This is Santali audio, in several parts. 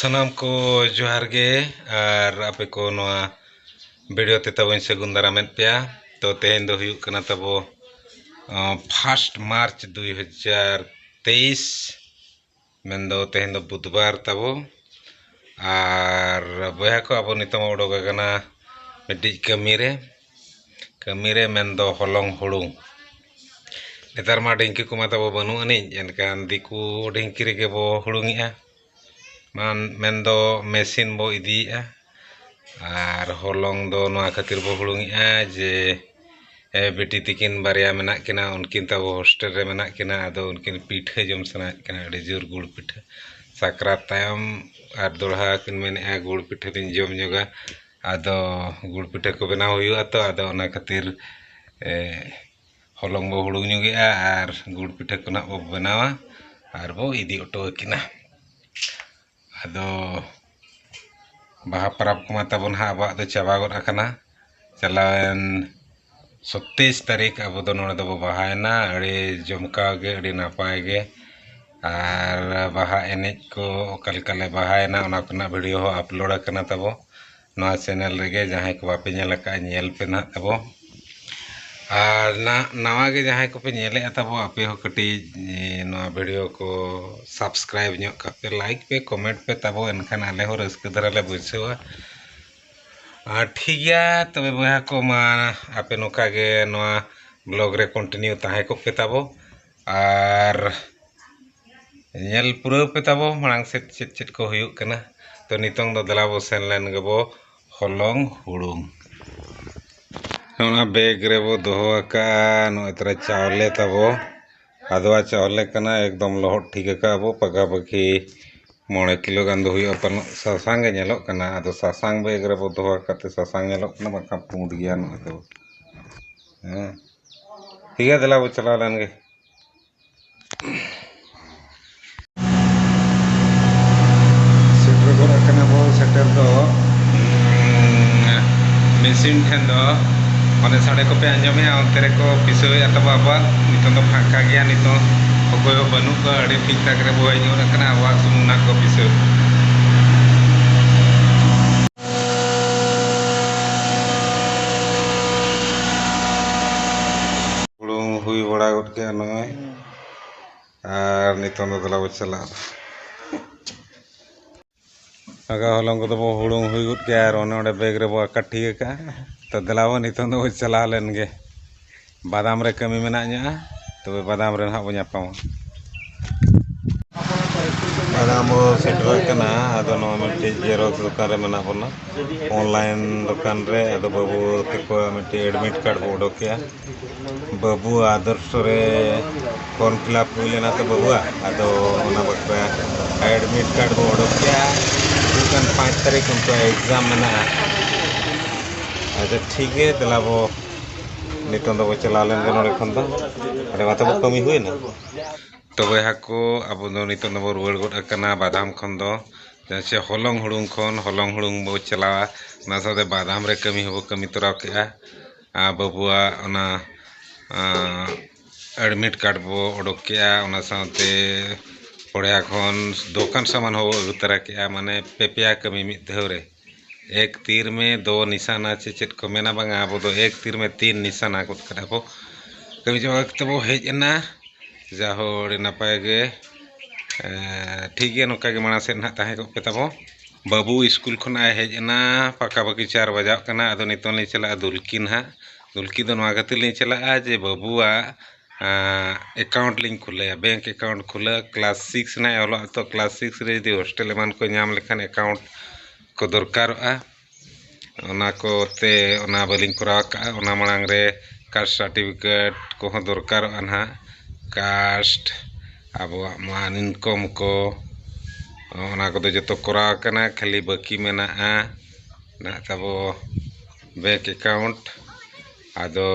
ᱥᱟᱱᱟᱢ ᱠᱚ ᱡᱚᱦᱟᱨ ᱜᱮ ᱟᱨ ᱟᱯᱮ ᱠᱚ ᱱᱚᱣᱟ ᱵᱷᱤᱰᱤᱭᱳ ᱛᱮ ᱛᱟᱵᱚᱧ ᱥᱟᱹᱜᱩᱱ ᱫᱟᱨᱟᱢᱮᱫ ᱯᱮᱭᱟ ᱛᱚ ᱛᱮᱦᱮᱧ ᱫᱚ ᱦᱩᱭᱩᱜ ᱠᱟᱱᱟ ᱛᱟᱵᱚ ᱯᱷᱟᱥᱴ ᱢᱟᱨᱪ ᱫᱩᱭ ᱦᱟᱡᱟᱨ ᱛᱮᱭᱤᱥ ᱢᱮᱱᱫᱚ ᱛᱮᱦᱮᱧ ᱫᱚ ᱵᱩᱫᱷ ᱵᱟᱨ ᱛᱟᱵᱚ ᱟᱨ ᱵᱚᱭᱦᱟ ᱠᱚ ᱟᱵᱚ ᱱᱤᱛᱚᱜ ᱵᱚᱱ ᱩᱰᱩᱠ ᱟᱠᱟᱱᱟ ᱢᱤᱫᱴᱤᱡ ᱠᱟᱹᱢᱤ ᱨᱮ ᱠᱟᱹᱢᱤ ᱨᱮ ᱢᱮᱱᱫᱚ ᱦᱚᱞᱚᱝ ᱦᱩᱲᱩᱝ ᱱᱮᱛᱟᱨ ᱢᱟ ᱰᱷᱤᱝᱠᱤ ᱠᱚᱢᱟ ᱛᱟᱵᱚ ᱵᱟᱹᱱᱩᱜ ᱟᱹᱱᱤᱡ ᱮᱱᱠᱷᱟᱱ ᱫᱤᱠᱩ ᱰᱷᱤᱝᱠᱤ ᱨᱮᱜᱮ ᱵᱚ ᱦᱩᱲᱩᱝ ᱮᱜᱼᱟ ᱢᱮᱱᱫᱚ ᱢᱮᱥᱤᱱ ᱵᱚ ᱤᱫᱤᱭᱮᱜᱼᱟ ᱟᱨ ᱦᱚᱞᱚᱝ ᱫᱚ ᱱᱚᱣᱟ ᱠᱷᱟᱹᱛᱤᱨ ᱵᱚ ᱦᱩᱲᱩᱝ ᱮᱜᱼᱟ ᱡᱮ ᱵᱤᱴᱤ ᱛᱟᱹᱠᱤᱱ ᱵᱟᱨᱭᱟ ᱢᱮᱱᱟᱜ ᱠᱤᱱᱟ ᱩᱱᱠᱤᱱ ᱛᱟᱵᱚ ᱦᱳᱥᱴᱮᱞ ᱨᱮ ᱢᱮᱱᱟᱜ ᱠᱤᱱᱟ ᱟᱫᱚ ᱩᱱᱠᱤᱱ ᱯᱤᱴᱷᱟᱹ ᱡᱚᱢ ᱥᱟᱱᱟᱭᱮᱜ ᱠᱤᱱᱟ ᱟᱹᱰᱤ ᱡᱳᱨ ᱜᱩᱲ ᱯᱤᱴᱷᱟᱹ ᱥᱟᱠᱨᱟᱛ ᱛᱟᱭᱚᱢ ᱟᱨ ᱫᱚᱦᱲᱟ ᱠᱤᱱ ᱢᱮᱱᱮᱜᱼᱟ ᱜᱩᱲ ᱯᱤᱴᱷᱟᱹ ᱞᱤᱧ ᱡᱚᱢ ᱧᱚᱜᱟ ᱟᱫᱚ ᱜᱩᱲ ᱯᱤᱴᱷᱟᱹ ᱠᱚ ᱵᱮᱱᱟᱣ ᱦᱩᱭᱩᱜᱼᱟ ᱛᱚ ᱟᱫᱚ ᱚᱱᱟ ᱠᱷᱟᱹᱛᱤᱨ ᱦᱚᱞᱚᱝ ᱵᱚ ᱦᱩᱲᱩᱝ ᱧᱚᱜ ᱮᱜᱼᱟ ᱟᱨ ᱜᱩᱲ ᱯᱤᱴᱷᱟᱹ ᱠᱚ ᱦᱟᱸᱜ ᱵᱚ ᱵᱮᱱᱟᱣᱟ ᱟᱨ ᱵᱚ ᱤᱫᱤ ᱦᱚᱴᱚ ᱟᱹᱠᱤᱱᱟ ᱟᱫᱚ ᱵᱟᱦᱟ ᱯᱚᱨᱚᱵᱽ ᱠᱚᱢᱟ ᱛᱟᱵᱚᱱ ᱦᱟᱸᱜ ᱟᱵᱚᱣᱟᱜ ᱫᱚ ᱪᱟᱵᱟ ᱜᱚᱫ ᱟᱠᱟᱱᱟ ᱪᱟᱞᱟᱣᱮᱱ ᱥᱚᱛᱮᱭᱤᱥ ᱛᱟᱹᱨᱤᱠᱷ ᱟᱵᱚ ᱫᱚ ᱱᱚᱰᱮ ᱫᱚᱵᱚᱱ ᱵᱟᱦᱟᱭᱮᱱᱟ ᱟᱹᱰᱤ ᱡᱚᱢᱠᱟᱣ ᱜᱮ ᱟᱹᱰᱤ ᱱᱟᱯᱟᱭ ᱜᱮ ᱟᱨ ᱵᱟᱦᱟ ᱮᱱᱮᱡ ᱠᱚ ᱚᱠᱟ ᱞᱮᱠᱟ ᱞᱮ ᱵᱟᱦᱟᱭᱮᱱᱟ ᱚᱱᱟ ᱠᱚᱨᱮᱱᱟᱜ ᱵᱷᱤᱰᱭᱳ ᱦᱚᱸ ᱟᱯᱞᱳᱰ ᱟᱠᱟᱱᱟ ᱛᱟᱵᱚ ᱱᱚᱣᱟ ᱪᱮᱱᱮᱞ ᱨᱮᱜᱮ ᱡᱟᱦᱟᱸᱭ ᱠᱚ ᱵᱟᱯᱮ ᱧᱮᱞ ᱟᱠᱟᱫᱼᱟ ᱧᱮᱞ ᱯᱮ ᱱᱟᱦᱟᱜ ᱛᱟᱵᱚ ᱟᱨ ᱱᱟᱦᱟᱜ ᱱᱟᱣᱟ ᱜᱮ ᱡᱟᱦᱟᱸᱭ ᱠᱚᱯᱮ ᱧᱮᱞᱮᱜᱼᱟ ᱛᱟᱵᱚ ᱟᱯᱮ ᱦᱚᱸ ᱠᱟᱹᱴᱤᱡ ᱱᱚᱣᱟ ᱵᱷᱤᱰᱤᱭᱳ ᱠᱚ ᱥᱟᱵᱥᱠᱨᱟᱭᱤᱵᱽ ᱧᱚᱜ ᱠᱟᱜ ᱯᱮ ᱞᱟᱭᱤᱠ ᱯᱮ ᱠᱚᱢᱮᱱᱴ ᱯᱮ ᱛᱟᱵᱚ ᱮᱱᱠᱷᱟᱱ ᱟᱞᱮ ᱦᱚᱸ ᱨᱟᱹᱥᱠᱟᱹ ᱫᱷᱟᱨᱟ ᱞᱮ ᱵᱩᱡᱷᱟᱹᱣᱟ ᱟᱨ ᱴᱷᱤᱠ ᱜᱮᱭᱟ ᱛᱚᱵᱮ ᱵᱚᱭᱦᱟ ᱠᱚ ᱢᱟ ᱟᱯᱮ ᱱᱚᱝᱠᱟ ᱜᱮ ᱱᱚᱣᱟ ᱵᱞᱚᱜᱽ ᱨᱮ ᱠᱚᱱᱴᱤᱱᱤᱭᱩ ᱛᱟᱦᱮᱸ ᱠᱚᱜ ᱯᱮ ᱛᱟᱵᱚ ᱟᱨ ᱧᱮᱞ ᱯᱩᱨᱟᱹᱣ ᱯᱮ ᱛᱟᱵᱚ ᱢᱟᱲᱟᱝ ᱥᱮᱫ ᱪᱮᱫ ᱪᱮᱫ ᱠᱚ ᱦᱩᱭᱩᱜ ᱠᱟᱱᱟ ᱛᱚ ᱱᱤᱛᱚᱝ ᱫᱚ ᱫᱮᱞᱟ ᱵᱚ ᱥᱮᱱ ᱞᱮᱱ ᱜᱮᱵᱚ ᱦᱚᱞᱚᱝ ᱦᱩᱲᱩᱝ ᱚᱱᱟ ᱵᱮᱜᱽ ᱨᱮᱵᱚ ᱫᱚᱦᱚ ᱟᱠᱟᱫᱼᱟ ᱱᱚᱜᱼᱚᱭ ᱛᱚᱨᱟ ᱪᱟᱣᱞᱮ ᱛᱟᱵᱚ ᱟᱫᱽᱣᱟ ᱪᱟᱣᱞᱮ ᱠᱟᱱᱟ ᱮᱠᱫᱚᱢ ᱞᱚᱦᱚᱫ ᱴᱷᱤᱠ ᱟᱠᱟᱫᱼᱟ ᱵᱚ ᱯᱟᱠᱟ ᱯᱟᱹᱠᱤ ᱢᱚᱬᱮ ᱠᱤᱞᱳ ᱜᱟᱱ ᱫᱚ ᱦᱩᱭᱩᱜᱼᱟ ᱯᱟᱞᱮᱱ ᱥᱟᱥᱟᱝ ᱜᱮ ᱧᱮᱞᱚᱜ ᱠᱟᱱᱟ ᱟᱫᱚ ᱥᱟᱥᱟᱝ ᱵᱮᱜᱽ ᱨᱮᱵᱚ ᱫᱚᱦᱚ ᱟᱠᱟᱫ ᱛᱮ ᱥᱟᱥᱟᱝ ᱧᱮᱞᱚᱜ ᱠᱟᱱᱟ ᱵᱟᱝᱠᱷᱟᱱ ᱯᱩᱸᱰ ᱜᱮᱭᱟ ᱱᱚᱣᱟ ᱫᱚ ᱦᱮᱸ ᱴᱷᱤᱠ ᱜᱮᱭᱟ ᱫᱮᱞᱟ ᱵᱚ ᱪᱟᱞᱟᱣ ᱞᱮᱱ ᱜᱮ ᱥᱮᱴᱮᱨ ᱜᱚᱫ ᱟᱠᱟᱱᱟ ᱵᱚ ᱥᱮᱴᱮᱨ ᱫᱚ ᱢᱮᱥᱤᱱ ᱴᱷᱮᱱ ᱫᱚ ᱢᱟᱱᱮ ᱥᱟᱰᱮ ᱠᱚᱯᱮ ᱟᱸᱡᱚᱢᱮᱜᱼᱟ ᱚᱱᱛᱮ ᱨᱮᱠᱚ ᱯᱤᱥᱟᱹᱣᱮᱫᱼᱟ ᱛᱟᱵᱚ ᱟᱵᱚᱣᱟᱜ ᱱᱤᱛᱚᱝ ᱫᱚ ᱯᱷᱟᱸᱠᱟ ᱜᱮᱭᱟ ᱱᱤᱛᱚᱝ ᱚᱠᱚᱭ ᱦᱚᱸ ᱵᱟᱹᱱᱩᱜ ᱠᱚᱣᱟ ᱟᱹᱰᱤ ᱴᱷᱤᱠ ᱴᱷᱟᱠ ᱨᱮᱵᱚ ᱦᱮᱡ ᱜᱚᱫ ᱟᱠᱟᱱᱟ ᱟᱵᱚᱣᱟᱜ ᱥᱩᱢᱩᱝ ᱱᱟᱜ ᱠᱚ ᱯᱤᱥᱟᱹᱣ ᱦᱩᱭ ᱵᱟᱲᱟ ᱜᱚᱫ ᱠᱮᱜᱼᱟ ᱱᱚᱜᱼᱚᱭ ᱟᱨ ᱱᱤᱛᱚᱝ ᱫᱚ ᱫᱮᱞᱟ ᱵᱚ ᱪᱟᱞᱟᱜᱼᱟ ᱞᱟᱜᱟᱣ ᱦᱚᱞᱚᱝ ᱠᱚᱫᱚ ᱵᱚ ᱦᱩᱲᱩᱝ ᱦᱩᱭ ᱜᱚᱫ ᱠᱮᱜᱼᱟ ᱟᱨ ᱚᱱᱮ ᱚᱸᱰᱮ ᱵᱮᱜᱽ ᱨᱮᱵᱚ ᱟᱠᱟ ᱴᱷᱤᱠ ᱟᱠᱟᱜᱼᱟ ᱛᱚ ᱫᱮᱞᱟ ᱵᱚ ᱱᱤᱛᱚᱝ ᱫᱚᱵᱚ ᱪᱟᱞᱟᱣ ᱞᱮᱱ ᱜᱮ ᱵᱟᱫᱟᱢ ᱨᱮ ᱠᱟᱹᱢᱤ ᱢᱮᱱᱟᱜ ᱧᱚᱜᱼᱟ ᱛᱚᱵᱮ ᱵᱟᱫᱟᱢ ᱨᱮ ᱱᱟᱦᱟᱜ ᱵᱚᱱ ᱧᱟᱯᱟᱢᱟ ᱵᱟᱫᱟᱢ ᱵᱚ ᱥᱮᱴᱮᱨᱚᱜ ᱠᱟᱱᱟ ᱟᱫᱚ ᱱᱚᱣᱟ ᱢᱤᱫᱴᱤᱡ ᱡᱮᱨᱚᱠᱥ ᱫᱚᱠᱟᱱ ᱨᱮ ᱢᱮᱱᱟᱜ ᱵᱚᱱᱟ ᱚᱱᱞᱟᱭᱤᱱ ᱫᱚᱠᱟᱱ ᱨᱮ ᱟᱫᱚ ᱵᱟᱹᱵᱩ ᱛᱟᱠᱚ ᱢᱤᱫᱴᱤᱡ ᱮᱰᱢᱤᱴ ᱠᱟᱨᱰ ᱵᱚ ᱩᱰᱩᱠ ᱠᱮᱜᱼᱟ ᱵᱟᱹᱵᱩ ᱟᱫᱚᱨᱥᱚ ᱨᱮ ᱯᱷᱚᱨᱢ ᱯᱷᱤᱞᱟᱯ ᱦᱩᱭ ᱞᱮᱱᱟ ᱛᱚ ᱵᱟᱹᱵᱩᱣᱟᱜ ᱟᱫᱚ ᱚᱱᱟ ᱵᱟᱠᱷᱨᱟ ᱮᱰᱢᱤᱴ ᱠᱟᱨᱰ ᱵᱚ ᱩᱰᱩᱠ ᱠᱮᱜᱼᱟ ᱦᱤᱡᱩᱜ ᱠᱟᱱ ᱯᱟᱸᱪ ᱛᱟᱹᱨᱤᱠᱷ ᱩᱱᱠᱩᱣᱟᱜ ᱮᱠᱡᱟᱢ ᱢᱮᱱᱟᱜᱼᱟ ᱟᱪᱪᱷᱟ ᱴᱷᱤᱠ ᱜᱮᱭᱟ ᱫᱮᱞᱟ ᱵᱚ ᱱᱤᱛᱚᱝ ᱫᱚᱵᱚ ᱪᱟᱞᱟᱣ ᱞᱮᱱ ᱜᱮ ᱱᱚᱰᱮ ᱠᱷᱚᱱ ᱫᱚ ᱟᱹᱰᱤ ᱢᱟᱛᱚ ᱵᱚ ᱠᱟᱹᱢᱤ ᱦᱩᱭᱱᱟ ᱛᱚ ᱵᱚᱭᱦᱟ ᱠᱚ ᱟᱵᱚ ᱫᱚ ᱱᱤᱛᱚᱝ ᱫᱚᱵᱚ ᱨᱩᱣᱟᱹᱲ ᱜᱚᱫ ᱟᱠᱟᱱᱟ ᱵᱟᱫᱟᱢ ᱠᱷᱚᱱ ᱫᱚ ᱡᱟᱦᱟᱸ ᱪᱮ ᱦᱚᱞᱚᱝ ᱦᱩᱲᱩᱝ ᱠᱷᱚᱱ ᱦᱚᱞᱚᱝ ᱦᱩᱲᱩᱝ ᱵᱚ ᱪᱟᱞᱟᱣᱟ ᱚᱱᱟ ᱥᱟᱶᱛᱮ ᱵᱟᱫᱟᱢ ᱨᱮ ᱠᱟᱹᱢᱤ ᱦᱚᱸᱵᱚ ᱠᱟᱹᱢᱤ ᱛᱚᱨᱟᱣ ᱠᱮᱜᱼᱟ ᱟᱨ ᱵᱟᱹᱵᱩᱣᱟᱜ ᱚᱱᱟ ᱮᱰᱢᱤᱴ ᱠᱟᱨᱰ ᱵᱚ ᱚᱰᱚᱠ ᱠᱮᱜᱼᱟ ᱚᱱᱟ ᱥᱟᱶᱛᱮ ᱯᱚᱲᱭᱟ ᱠᱷᱚᱱ ᱫᱚᱠᱟᱱ ᱥᱟᱢᱟᱱ ᱦᱚᱸᱵᱚ ᱟᱹᱜᱩ ᱛᱟᱨᱟ ᱠᱮᱜᱼᱟ ᱢᱟᱱᱮ ᱯᱮ ᱯᱮᱭᱟ ᱠᱟᱹᱢᱤ ᱢᱤᱫ ᱫᱷᱟᱣ ᱨᱮ ᱮᱠ ᱛᱤᱨ ᱢᱮ ᱫᱳ ᱱᱤᱥᱟᱱᱟ ᱪᱮ ᱪᱮᱫ ᱠᱚ ᱢᱮᱱᱟ ᱵᱟᱝᱟ ᱟᱵᱚ ᱫᱚ ᱮᱠ ᱛᱤᱨ ᱢᱮ ᱛᱤᱱ ᱱᱤᱥᱟᱱᱟ ᱜᱚᱫ ᱠᱟᱫᱟ ᱵᱚ ᱠᱟᱹᱢᱤ ᱪᱟᱵᱟ ᱠᱟᱛᱮ ᱵᱚ ᱦᱮᱡ ᱮᱱᱟ ᱡᱟᱦᱳ ᱟᱹᱰᱤ ᱱᱟᱯᱟᱭ ᱜᱮ ᱴᱷᱤᱠ ᱜᱮᱭᱟ ᱱᱚᱝᱠᱟ ᱜᱮ ᱢᱟᱲᱟᱝ ᱥᱮᱫ ᱱᱟᱦᱟᱜ ᱛᱟᱦᱮᱸ ᱠᱚᱜ ᱯᱮ ᱛᱟᱵᱚ ᱵᱟᱹᱵᱩ ᱥᱠᱩᱞ ᱠᱷᱚᱱᱟᱜ ᱮ ᱦᱮᱡ ᱮᱱᱟ ᱯᱟᱠᱟ ᱯᱟᱠᱤ ᱪᱟᱨ ᱵᱟᱡᱟᱜ ᱠᱟᱱᱟ ᱟᱫᱚ ᱱᱤᱛᱚᱝ ᱞᱤᱧ ᱪᱟᱞᱟᱜᱼᱟ ᱫᱩᱞᱠᱤ ᱱᱟᱦᱟᱜ ᱫᱩᱞᱠᱤ ᱫᱚ ᱱᱚᱣᱟ ᱠᱷᱟᱹᱛᱤᱨ ᱞᱤᱧ ᱪᱟᱞᱟᱜᱼᱟ ᱡᱮ ᱵᱟᱹᱵᱩᱣᱟᱜ ᱮᱠᱟᱣᱩᱱᱴ ᱞᱤᱧ ᱠᱷᱩᱞᱟᱹᱭᱟ ᱵᱮᱝᱠ ᱮᱠᱟᱣᱩᱱᱴ ᱠᱷᱩᱞᱟᱹᱣ ᱠᱞᱟᱥ ᱥᱤᱠᱥ ᱨᱮᱱᱟᱜ ᱮ ᱚᱞᱚᱜᱼᱟ ᱛᱚ ᱠᱞᱟᱥ ᱥᱤᱠᱥ ᱨᱮ ᱡᱩᱫᱤ ᱦᱳᱥᱴᱮᱞ ᱮᱢᱟᱱ ᱠᱚ ᱧᱟᱢ ᱞᱮᱠᱷᱟᱱ ᱮᱠᱟᱣᱩᱱᱴ ᱠᱚ ᱫᱚᱨᱠᱟᱨᱚᱜᱼᱟ ᱚᱱᱟ ᱠᱚᱛᱮ ᱚᱱᱟ ᱵᱟᱹᱞᱤᱧ ᱠᱚᱨᱟᱣ ᱠᱟᱜᱼᱟ ᱚᱱᱟ ᱢᱟᱲᱟᱝ ᱨᱮ ᱠᱟᱥᱴ ᱥᱟᱨᱴᱤᱯᱷᱤᱠᱮᱴ ᱠᱚᱦᱚᱸ ᱫᱚᱨᱠᱟᱨᱚᱜᱼᱟ ᱱᱟᱜ ᱠᱟᱥᱴ ᱟᱵᱚᱣᱟᱜ ᱢᱟ ᱤᱱᱠᱚᱢ ᱠᱚ ᱚᱱᱟ ᱠᱚᱫᱚ ᱡᱚᱛᱚ ᱠᱚᱨᱟᱣ ᱟᱠᱟᱱᱟ ᱠᱷᱟᱹᱞᱤ ᱵᱟᱹᱠᱤ ᱢᱮᱱᱟᱜᱼᱟ ᱱᱟᱜ ᱛᱟᱵᱚ ᱵᱮᱝᱠ ᱮᱠᱟᱣᱩᱱᱴ ᱟᱫᱚ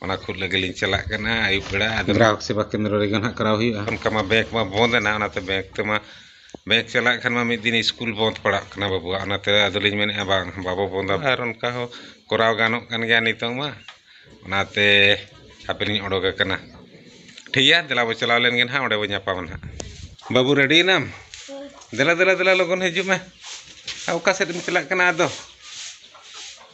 ᱚᱱᱟ ᱠᱷᱩᱫ ᱞᱟᱹᱜᱤᱫ ᱞᱤᱧ ᱪᱟᱞᱟᱜ ᱠᱟᱱᱟ ᱟᱹᱭᱩᱵ ᱵᱮᱲᱟ ᱟᱫᱚ ᱜᱨᱟᱦᱚᱠ ᱥᱮᱵᱟ ᱠᱮᱱᱫᱨᱚ ᱨᱮᱜᱮ ᱱᱟᱦᱟᱜ ᱠᱚᱨᱟᱣ ᱦᱩᱭᱩᱜᱼᱟ ᱚᱱᱠᱟ ᱢᱟ ᱵᱮᱝᱠ ᱢᱟ ᱵᱚᱸᱫᱽ ᱮᱱᱟ ᱚᱱᱟᱛᱮ ᱵᱮᱝᱠ ᱛᱮᱢᱟ ᱵᱮᱝᱠ ᱪᱟᱞᱟᱜ ᱠᱷᱟᱱ ᱢᱟ ᱢᱤᱫ ᱫᱤᱱ ᱥᱠᱩᱞ ᱵᱚᱸᱫᱽ ᱯᱟᱲᱟᱜ ᱠᱟᱱᱟ ᱵᱟᱹᱵᱩᱣᱟᱜ ᱚᱱᱟᱛᱮ ᱟᱫᱚ ᱞᱤᱧ ᱢᱮᱱᱮᱫᱼᱟ ᱵᱟᱝ ᱵᱟᱵᱚ ᱵᱚᱸᱫᱟ ᱟᱨ ᱚᱱᱠᱟ ᱦᱚᱸ ᱠᱚᱨᱟᱣ ᱜᱟᱱᱚᱜ ᱠᱟᱱ ᱜᱮᱭᱟ ᱱᱤᱛᱚᱝ ᱢᱟ ᱚᱱᱟᱛᱮ ᱦᱟᱯᱮ ᱞᱤᱧ ᱚᱰᱚᱠ ᱟᱠᱟᱱᱟ ᱴᱷᱤᱠ ᱜᱮᱭᱟ ᱫᱮᱞᱟ ᱵᱚᱱ ᱪᱟᱞᱟᱣ ᱞᱮᱱ ᱜᱮ ᱱᱟᱦᱟᱜ ᱚᱸᱰᱮ ᱵᱚᱱ ᱧᱟᱯᱟᱢᱟ ᱱᱟᱦᱟᱜ ᱵᱟᱹᱵᱩ ᱨᱮᱰᱤ ᱮᱱᱟᱢ ᱫᱮᱞᱟ ᱫᱮᱞᱟ ᱫᱮᱞᱟ ᱞᱚᱜᱚᱱ ᱦᱤᱡᱩᱜ ᱢᱮ ᱟᱨ ᱚᱠᱟ ᱥᱮᱫ ᱮᱢ ᱪᱟᱞᱟᱜ ᱠᱟᱱᱟ ᱟᱫᱚ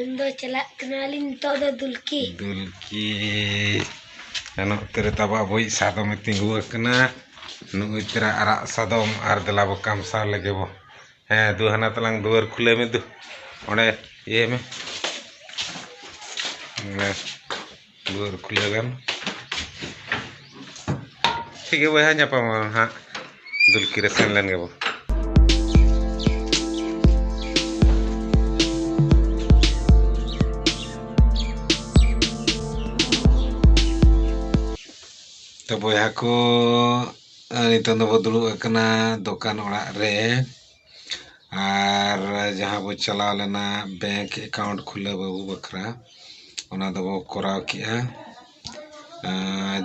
ᱤᱧ ᱫᱚ ᱪᱟᱞᱟᱜ ᱠᱟᱱᱟᱞᱤᱧ ᱱᱤᱛᱚᱜ ᱫᱚ ᱫᱩᱞᱠᱤ ᱫᱩᱞᱠᱤ ᱮᱱ ᱚᱠᱛᱮ ᱨᱮ ᱛᱟᱵᱚ ᱟᱵᱚᱭᱤᱡ ᱥᱟᱫᱚᱢᱮ ᱛᱤᱸᱜᱩ ᱟᱠᱟᱱᱟ ᱱᱩᱜᱼᱩᱭ ᱛᱚᱨᱟ ᱟᱨᱟᱜ ᱥᱟᱫᱚᱢ ᱟᱨ ᱫᱮᱞᱟ ᱵᱚ ᱠᱟᱢᱥᱟᱣ ᱞᱮᱜᱮ ᱵᱚ ᱦᱮᱸ ᱫᱩ ᱦᱟᱱᱟ ᱛᱟᱞᱟᱝ ᱫᱩᱣᱟᱹᱨ ᱠᱷᱩᱞᱟᱹᱣ ᱢᱮ ᱫᱩ ᱚᱸᱰᱮ ᱤᱭᱟᱹᱭ ᱢᱮ ᱚᱱᱮ ᱫᱩᱣᱟᱹᱨ ᱠᱷᱩᱞᱟᱹᱣ ᱞᱮᱱ ᱴᱷᱤᱠ ᱜᱮ ᱵᱚᱭᱦᱟ ᱧᱟᱯᱟᱢ ᱦᱟᱸᱜ ᱫᱩᱞᱠᱤ ᱨᱮ ᱥᱮᱱ ᱞᱮᱱ ᱜᱮᱵᱚ ᱛᱚ ᱵᱚᱭᱦᱟ ᱠᱚ ᱱᱤᱛᱚᱝ ᱫᱚᱵᱚ ᱫᱩᱲᱩᱵ ᱟᱠᱟᱱᱟ ᱫᱚᱠᱟᱱ ᱚᱲᱟᱜ ᱨᱮ ᱟᱨ ᱡᱟᱦᱟᱸ ᱵᱚ ᱪᱟᱞᱟᱣ ᱞᱮᱱᱟ ᱵᱮᱝᱠ ᱮᱠᱟᱣᱩᱱᱴ ᱠᱷᱩᱞᱟᱹᱣ ᱵᱟᱹᱵᱩ ᱵᱟᱠᱷᱨᱟ ᱚᱱᱟ ᱫᱚᱵᱚ ᱠᱚᱨᱟᱣ ᱠᱮᱜᱼᱟ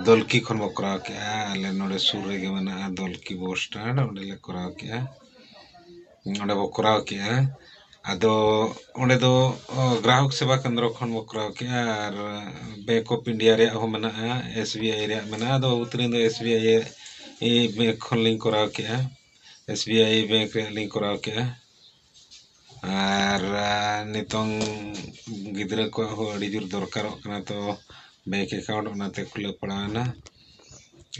ᱫᱚᱞᱠᱤ ᱠᱷᱚᱱ ᱵᱚ ᱠᱚᱨᱟᱣ ᱠᱮᱜᱼᱟ ᱟᱞᱮ ᱱᱚᱰᱮ ᱥᱩᱨ ᱨᱮᱜᱮ ᱢᱮᱱᱟᱜᱼᱟ ᱫᱚᱞᱠᱤ ᱵᱚᱥ ᱥᱴᱮᱱᱰ ᱚᱸᱰᱮ ᱞᱮ ᱠᱚᱨᱟᱣ ᱠᱮᱜᱼᱟ ᱚᱸᱰᱮ ᱵᱚ ᱠᱚᱨᱟᱣ ᱠᱮᱜᱼᱟ ᱟᱫᱚ ᱚᱸᱰᱮ ᱫᱚ ᱜᱨᱟᱦᱚᱠ ᱥᱮᱵᱟ ᱠᱮᱱᱫᱨᱚ ᱠᱷᱚᱱ ᱵᱚ ᱠᱚᱨᱟᱣ ᱠᱮᱜᱼᱟ ᱟᱨ ᱵᱮᱝᱠ ᱚᱯᱷ ᱤᱱᱰᱤᱭᱟ ᱨᱮᱭᱟᱜ ᱦᱚᱸ ᱢᱮᱱᱟᱜᱼᱟ ᱮᱥ ᱵᱤ ᱟᱭ ᱨᱮᱭᱟᱜ ᱢᱮᱱᱟᱜᱼᱟ ᱟᱫᱚ ᱵᱟᱹᱵᱩ ᱛᱟᱹᱞᱤᱧ ᱫᱚ ᱮᱥ ᱵᱤ ᱟᱭ ᱵᱮᱝᱠ ᱠᱷᱚᱱ ᱞᱤᱧ ᱠᱚᱨᱟᱣ ᱠᱮᱜᱼᱟ ᱮᱥ ᱵᱤ ᱟᱭ ᱵᱮᱝᱠ ᱨᱮᱭᱟᱜ ᱞᱤᱧ ᱠᱚᱨᱟᱣ ᱠᱮᱜᱼᱟ ᱟᱨ ᱱᱤᱛᱚᱝ ᱜᱤᱫᱽᱨᱟᱹ ᱠᱚᱣᱟᱜ ᱦᱚᱸ ᱟᱹᱰᱤ ᱡᱳᱨ ᱫᱚᱨᱠᱟᱨᱚᱜ ᱠᱟᱱᱟ ᱛᱚ ᱵᱮᱝᱠ ᱮᱠᱟᱣᱩᱱᱴ ᱚᱱᱟᱛᱮ ᱠᱷᱩᱞᱟᱹᱣ ᱯᱟᱲᱟᱣᱮᱱᱟ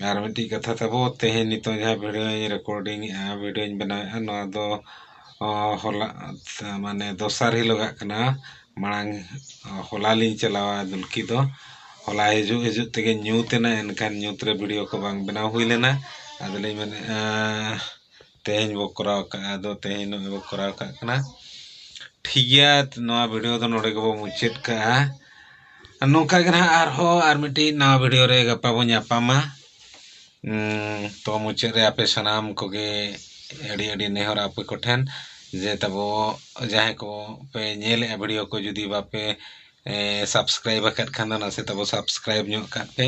ᱟᱨ ᱢᱤᱫᱴᱤᱡ ᱠᱟᱛᱷᱟ ᱛᱟᱵᱚ ᱛᱮᱦᱮᱧ ᱱᱤᱛᱚᱜ ᱡᱟᱦᱟᱸ ᱵᱷᱤᱰᱭᱳᱧ ᱨᱮᱠᱳᱰᱤᱝ ᱮᱜᱼᱟ ᱵᱷᱤᱰᱭᱳᱧ ᱵᱮᱱᱟᱣᱮᱜᱼᱟ ᱱᱚᱣᱟ ᱫᱚ ᱦᱚᱞᱟ ᱢᱟᱱᱮ ᱫᱚᱥᱟᱨ ᱦᱤᱞᱳᱜᱟᱜ ᱠᱟᱱᱟ ᱢᱟᱲᱟᱝ ᱦᱚᱞᱟ ᱞᱤᱧ ᱪᱟᱞᱟᱣᱟ ᱫᱩᱞᱠᱤ ᱫᱚ ᱦᱚᱞᱟ ᱦᱤᱡᱩᱜ ᱦᱤᱡᱩᱜ ᱛᱮᱜᱮ ᱧᱩᱛ ᱮᱱᱟ ᱮᱱᱠᱷᱟᱱ ᱧᱩᱛ ᱨᱮ ᱵᱷᱤᱰᱭᱳ ᱠᱚ ᱵᱟᱝ ᱵᱮᱱᱟᱣ ᱦᱩᱭ ᱞᱮᱱᱟ ᱟᱫᱚ ᱞᱤᱧ ᱢᱮᱱᱮᱜᱼᱟ ᱛᱮᱦᱮᱧ ᱵᱚ ᱠᱚᱨᱟᱣ ᱠᱟᱜᱼᱟ ᱟᱫᱚ ᱛᱮᱦᱮᱧ ᱱᱚᱜᱼᱚᱭ ᱵᱚ ᱠᱚᱨᱟᱣ ᱠᱟᱜ ᱠᱟᱱᱟ ᱴᱷᱤᱠ ᱜᱮᱭᱟ ᱱᱚᱣᱟ ᱵᱷᱤᱰᱭᱳ ᱫᱚ ᱱᱚᱰᱮ ᱜᱮᱵᱚ ᱢᱩᱪᱟᱹᱫ ᱠᱟᱜᱼᱟ ᱱᱚᱝᱠᱟ ᱜᱮ ᱱᱟᱦᱟᱜ ᱟᱨᱦᱚᱸ ᱟᱨ ᱢᱤᱫᱴᱤᱡ ᱱᱟᱣᱟ ᱵᱷᱤᱰᱭᱳ ᱨᱮ ᱜᱟᱯᱟ ᱵᱚᱱ ᱧᱟᱯᱟᱢᱟ ᱛᱚ ᱢᱩᱪᱟᱹᱫ ᱨᱮ ᱟᱯᱮ ᱥᱟᱱᱟᱢ ᱠᱚᱜᱮ ᱟᱹᱰᱤ ᱟᱹᱰᱤ ᱱᱮᱦᱚᱨ ᱟᱯᱮ ᱠᱚᱴᱷᱮᱱ ᱡᱮ ᱛᱟᱵᱚ ᱡᱟᱦᱟᱸᱭ ᱠᱚ ᱯᱮ ᱧᱮᱞᱮᱜᱼᱟ ᱵᱷᱤᱰᱤᱭᱳ ᱠᱚ ᱡᱩᱫᱤ ᱵᱟᱯᱮ ᱥᱟᱵᱥᱠᱨᱟᱭᱤᱵᱽ ᱟᱠᱟᱫ ᱠᱷᱟᱱ ᱫᱚ ᱱᱟᱥᱮ ᱛᱟᱵᱚ ᱥᱟᱵᱥᱠᱨᱟᱭᱤᱵᱽ ᱧᱚᱜ ᱠᱟᱜ ᱯᱮ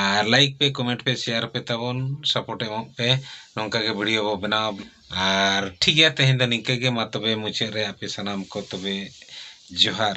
ᱟᱨ ᱞᱟᱭᱤᱠ ᱯᱮ ᱠᱚᱢᱮᱱᱴ ᱯᱮ ᱥᱮᱭᱟᱨ ᱯᱮ ᱛᱟᱵᱚᱱ ᱥᱟᱯᱳᱨᱴ ᱮᱢᱚᱜ ᱯᱮ ᱱᱚᱝᱠᱟ ᱜᱮ ᱵᱷᱤᱰᱤᱭᱳ ᱵᱚ ᱵᱮᱱᱟᱣᱟ ᱟᱨ ᱴᱷᱤᱠ ᱜᱮᱭᱟ ᱛᱮᱦᱮᱧ ᱫᱚ ᱱᱤᱝᱠᱟᱹ ᱜᱮ ᱢᱟ ᱛᱚᱵᱮ ᱢᱩᱪᱟᱹᱫ ᱨᱮ ᱟᱯᱮ ᱥᱟᱱᱟᱢ ᱠᱚ ᱛᱚᱵᱮ ᱡᱚᱦᱟᱨ